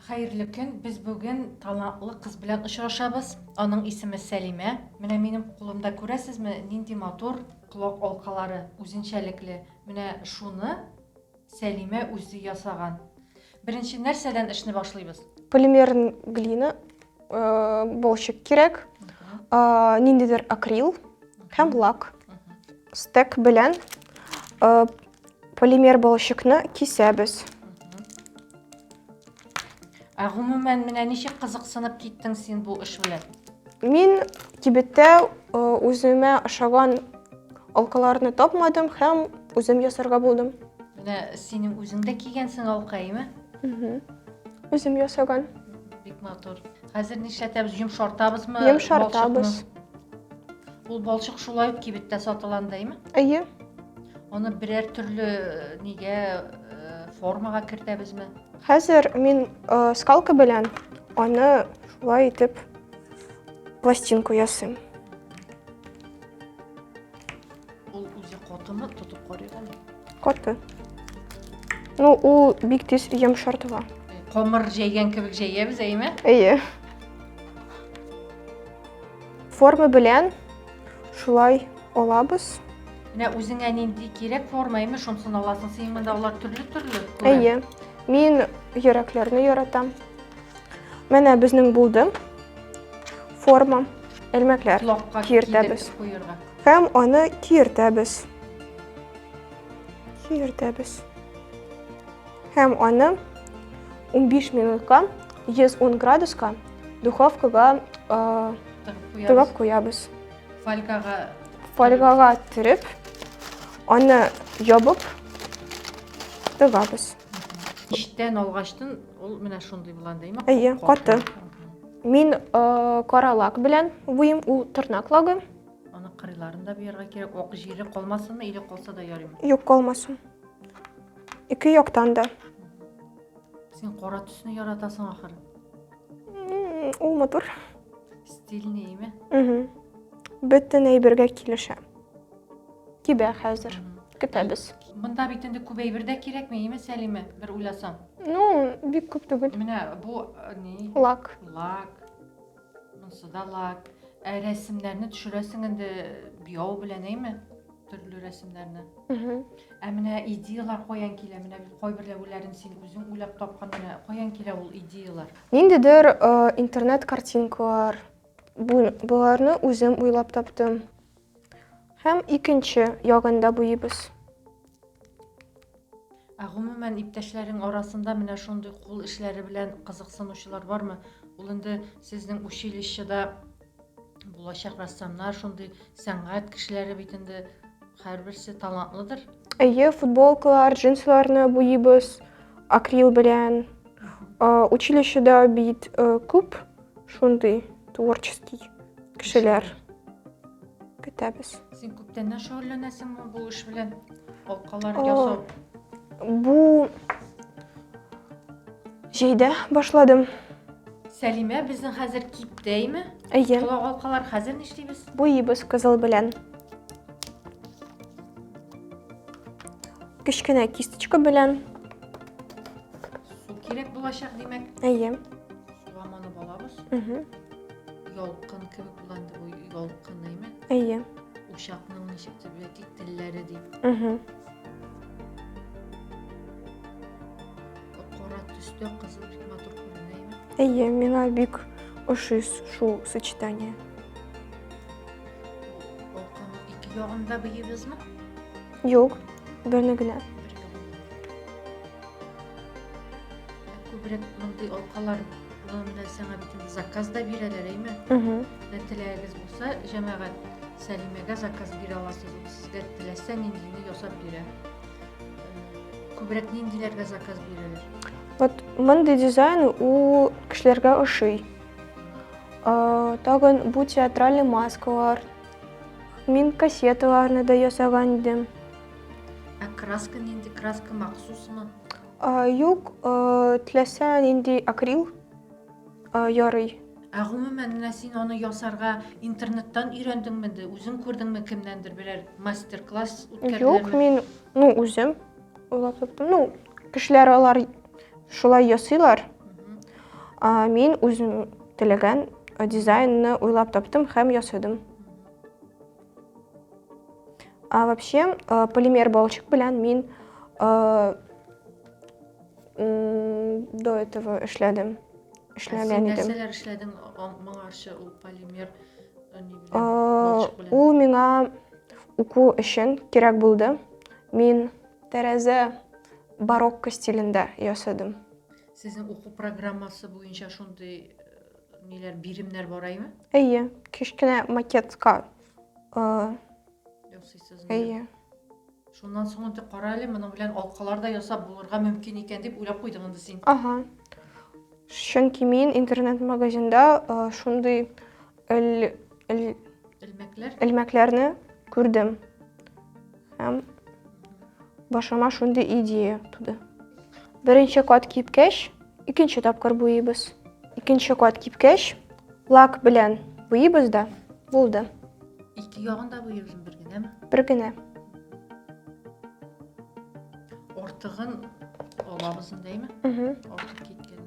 Хәерле көн, без бүген талантлы кыз белән очрашабыз. Аның исеме Сәлимә. Менә минем кулымда күрәсезме, нинди матур колак алкалары, үзенчәлекле. Менә шуны Сәлимә үзе ясаган. Беренче нәрсәдән эшне башлыйбыз? Полимерн глина, болчик кирәк, ниндидер акрил һәм лак. Стек белән Полимер балчыкны кисәбез. Ә гомумән менә ничек кызыксынып киттең син бу эш белән? Мин кибеттә э, үземә ошаган алкаларны тапмадым һәм үзем ясарга булдым. Менә синең үзең дә кигәнсең алка, әйме? Үзем ясаган. Бик матур. Хәзер нишләтәбез? Йомшартабызмы? Йомшартабыз. балчыкны? Ул балчык шулай ук кибеттә сатыланда, әйме? Әйе. Аны берәр төрле э, нигә э, формага кертәбезме? Хәзер мин э, скалка белән аны шулай итеп пластинку ясыйм. Ул үзе котымы тотып карыйган? Коты. Ну, ул бик тиз йомшартыла. Комыр җәйгән кебек җәябез, әйме? Әйе. Форма белән Шулай алабыз. Менә үзеңә нинди кирәк форма, әйме шунсын аласың. Синең монда алар төрле-төрле. Әйе. Мин йөрәкләрне яратам. Менә безнең булды. Форма, элмәкләр киертәбез. Һәм аны киертәбез. Киертәбез. Һәм аны 15 минутка 110 градуска духовкага тыгып куябыз. Фольгага фольгага төреп, аны ябып тыгабыз. Иштән алгачтын ул менә шундый булган димме? Әйе, каты. Мин э, каралак белән буем ул тырнак лагы. Аны кырыйларын да буярга кирәк. Ок җире калмасынмы или калса да ярыймы? Юк, калмасын. Ике яктан да. Син кара төсне яратасың ахыр. Ул матур. Стильный ме? Угу. Бөтен әйбергә килешә. Кибә хәзер. Көтәбез. Монда бит инде күп әйбер дә кирәкме, име Сәлимә? Бер уйласам. Ну, бик күп түгел. Менә бу э, ни? Лак. Лак. Монсы да лак. Ә рәсемнәрне төшерәсең инде буяу белән, әйме? төрле рәсемнәрне. Ә менә идеялар каян килә? Менә кайберләүләрен син үзең уйлап тапкан менә каян килә ул идеялар? Ниндидер э, интернет картинкалар. Боларны үзем уйлап таптым. Һәм икенче ягында буйыбыз. Ә гомумән, иптәшләрең арасында менә шундый кул эшләре белән кызыксынучылар бармы? Ул инде сезнең училищеда булачак рәссамнар, шундый сәнгать кешеләре бит инде һәрберсе талантлыдыр. Әйе, футболкалар, джинсларны буйыбыз акрил белән. Училищеда бит күп Шундый творческий кешеләр көтәбез. Син күптәннән шөгыльләнәсеңме бу эш белән? Алкалар ясау. Бу җәйдә башладым. Сәлимә безнең хәзер киптәйме? Әйе. Колак алкалар хәзер нишлибез? Буйыбыз кызыл белән. Кечкенә кисточка белән. Су кирәк булачак, димәк. Әйе. Суламаны балабыз. Угу. Ялкын кебек булган дип ой, ялкын нәйме? Әйе. Учакның ничек дип яки телләре дип. Угу. Кара төстә кызыл бик матур күренә, нәйме? Әйе, миңа бик ошый шул сочетание. Ялкынның ике ягында быйыбызмы? Юк, берне генә. Күбрәк мондый алкалар була менә сиңа бит инде заказ да бирәләр, әйме? Менә теләгегез булса, җәмәгать Сәлимәгә заказ бирә аласыз. Ул сезгә теләсә ниндине ясап бирә. Э, Күбрәк ниндиләргә заказ бирәләр? Вот мондый дизайн ул кешеләргә ошый. Э, Тагын бу театральный маскалар. Мин кассеталарны да ясаган идем. Ә краска нинди? Краска махсусмы? Юк, теләсә нинди акрил ярый. Ә гомумән менә син аны ясарга интернеттан өйрәндеңме инде? Үзең күрдеңме кемнәндер берәр мастер-класс үткәрделәрме? Юк, мин ну үзем уйлап таптым. Ну, кешеләр алар шулай ясыйлар. А мин үзем теләгән дизайнны уйлап таптым һәм ясадым. А вообще э, полимер балчик белән мин э, до этого эшләдем. Эшләгән идем. Нәрсәләр эшләдең моңарчы ул полимер э, э, Ул миңа уку өчен кирәк булды. Мин тәрәзә барокко стилендә ясадым. Сезнең уку программасы буенча шундый ниләр, биремнәр бар әйме? Әйе, кечкенә макетка. Ясыйсыз. Әйе. Шуннан соң инде кара әле, моның белән алкалар да ясап булырга мөмкин икән дип уйлап куйдың инде син. Ага. Чөнки мин интернет-магазинда шундый элмәкләр элмәкләрне күрдем. Һәм башыма шундый идея туды. Беренче кат кипкәч, икенче тапкыр буйыбыз. Икенче кат кипкәч, лак белән буйыбыз да булды. Ике ягын да буйыбыз бер генәме? Бер генә. Ортыгын алабыз индеме? Ортык киткән.